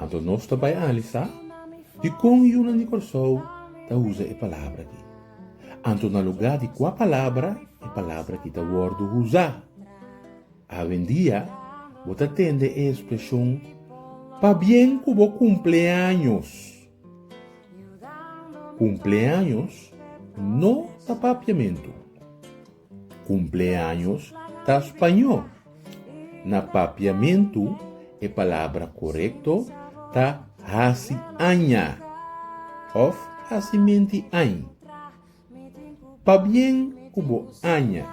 Anto nos ta bai analisá dikon yunan di Kòrsou ta usa e palabra ki. Anto na lugá di kua palabra e palabra ki ta wòrdu usá? Awendia bo ta tende e ekspreshon pabien ku bo kumpleaños. Kumpleaños no ta papiamentu. Cumpleaños ta Spañó. Na Papiamentu e palabra corecto ta haci aña of haci menti ain. Pabien cu bo aña.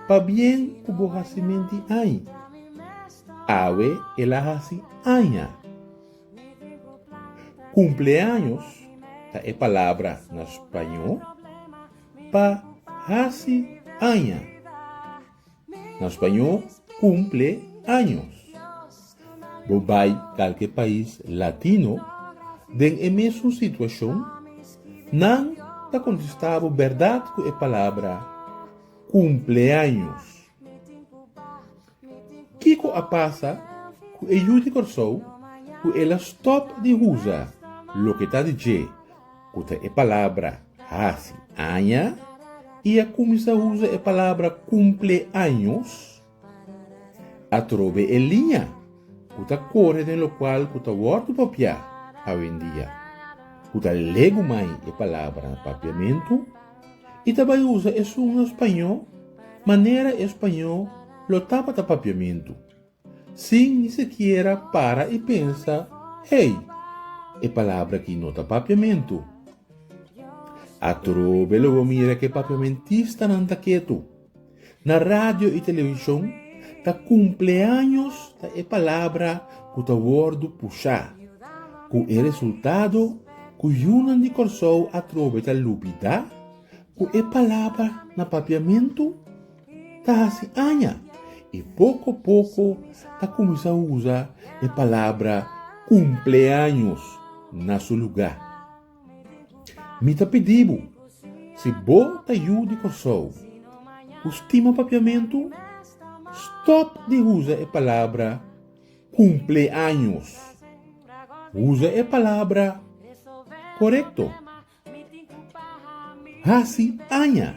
Pabien cu bo haci menti ain. Awe el a haci aña. Cumpleaños ta e palabra na Spañó. pa hasi aña. Na spañó, kumple años. Bo bai kalke pais latino den e mesun situashon, nan ta kontestá bo bèrdat ku e palabra kumpleaños. Kiko a pasa ku e yu di Kòrsou ku el a stòp di usa loke ta di dje ku ta e palabra hasi aña i a kuminsá usa e palabra kumple años atrobe e liña ku ta kore den lokual ku ta wòrdu papiá awendia ku ta legu mai e palabra papiamentu? i ta bai usa esun na spañó manera e spañó lo tabata papiamentu, sin ni sekiera para i pensa, Hey, e palabra aki no ta papiamentu. Atrobe lo bo mira ku e papiamentistanan ta ketu. Na radio i televishon ta kumpleaños ta e palabra ku ta wòrdu pushá, ku e resultado ku yunan di Kòrsou atrobe ta lubidá ku e palabra na papiamentu ta hasi aña i poko poko ta kuminsá usa e palabra kumpleaños na su lugá. Mi ta pidi bo, si bo ta yu di Kòrsou ku stima papiamentu, stòp di usa e palabra kumpleaños. Usa e palabra korekto, hasi aña.